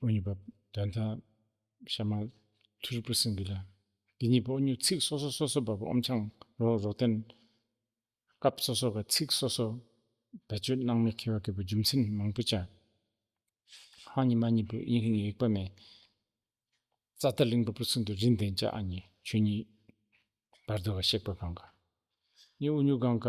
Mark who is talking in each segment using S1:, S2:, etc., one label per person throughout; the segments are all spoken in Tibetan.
S1: ཨོ་ཉི་པ། དོན་དག། ཤ་མ། ཐུ་རི་པུ་སིང་གི་ལ། འདི་གཉིས་པོ་ཨོ་ཉོ་ཚིག་སོ་སོ་སོ་སོ་བ་པོ་ཨོམ་ཆང་རོ་རོ་བསྟན། སྐབས་སོ་སོ་ག་ཚིག་སོ་སོ། བེད་སྤྱོད་སྣང་མེད་ཁེ་བ་གི་པོ་རྒྱུ་མཚན་མང་པོ་བྱ། ཧ་ཉི་མ་གཉིས་པོ་དབྱིན་ཧིན་ཡིག་པ་མེད། ཙཱ་ཏཱ་ལིང་པ་པོ་ཚུན་དུ་རིན་ལྡན་བྱ་ཨ་ཉི་ཆོས་ཉིད། བར་དོ་ག་གཤེགས་པ་གང་ག། གཉིས་ཨོ་ཉུ་གང་ག།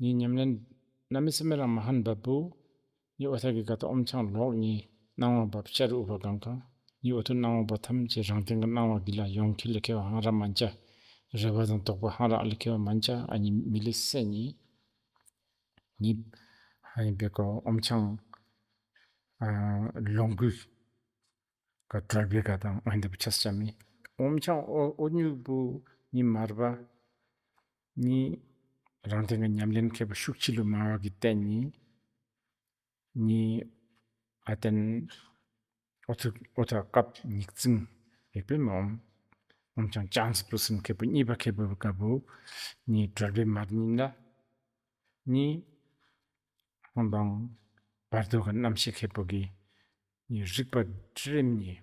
S1: ནི་ཉམས་ལེན། ནཱ་མི་སུ་མེ་རང་མ་ཧཱན་བབ་བུ། ནི་ཨོ་ཐ་གི་ག་ཏོ་ཨོམ་ཆང་ལོག། ནི་སྣང་བ་བབ་ཤ་རི་ཨུ་བ་གང་ག། ནི་ཨོ་ཐུ་སྣང་བ་བབ་ཐམས་ཅད་རང་སྟེང་གི་སྣང་བ་གི་ལ་ཡོངས་འཁྱིལ་ལ་ཁེལ་བ་ཧང་ར་མ་འཇ། རེ་བ་དང་དོགས་པ་ཧང་ར་ཨ་ལ་ཁེལ་བ་མ་འཇ་ཨ་ནི་མི་ལི་སེ་ནི། ནི། ཧ་ཡིན་པའི་ག་ཨོམ་ཆང། ལོངས་སྐུའི། ག་གྲོལ་བའི་ག་དང་ཨོ་ཧན་དེ་བུ་ཆ་སི་ཆ་མི། ཨོམ་ཆང་ཨོ་ཨོ་སྨྱུག་བུ། ནི་མར་བ། གཉིས། རང་སྟེང་གི་ཉམས་ལེན་མཁས་པ་ཤུགས་ཆེ་ལུས་མང་བ་གྱི་རྟེན་གཉིས། གཉིས། ཨ་ཏན། ཨོ་ཐུག་ཨོ་ཐ་སྐབས་སྙིགས་རྫིང། ཡེ་པེ་མ་འོམ། འོམ་ཆང་ལྕགས་མཛེས་སྤུ་གསུམ་མཁས་པོ་གཉིས་པ་མཁས་པོ་དཀར་པོ། གཉིས། གྲོལ་བའི་མར་སྙིང་ལ། གཉིས། ཧོན་ལྡང། བར་དོའི་གནམ་གཤིས་མཁས་པོ་དགེ། གཉིས། རིག་པ་ཁྲི་རིམ་གཉིས།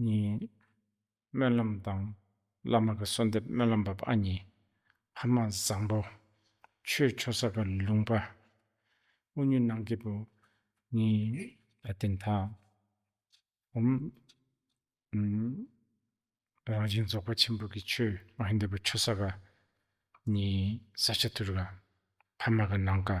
S1: གཉིས། སྨོན་ལམ་དང་བླ་མ་གི་གསོལ་འདེབས་སྨོན་ལམ་བབས་ཨ་མྱེས་ཕ་མ་བཟང་པོ། ཆོས་ཆོ་ས་ག་ལུང་པ། དབུ་སྙུན་གནང་སྐྱེས་བུ། གཉིས། ད་ལྟའི་མཐའ་བསྒོམ། རང་བཞིན་རྫོགས་པ་ཆེན་པོ་གི་ཆོས་མ་ཧེ་འདས་པ་ཆོ་ས་ག། གཉིས། ས་ཆ་དུར་ག། ཕ་མ་གི་ནང་ག།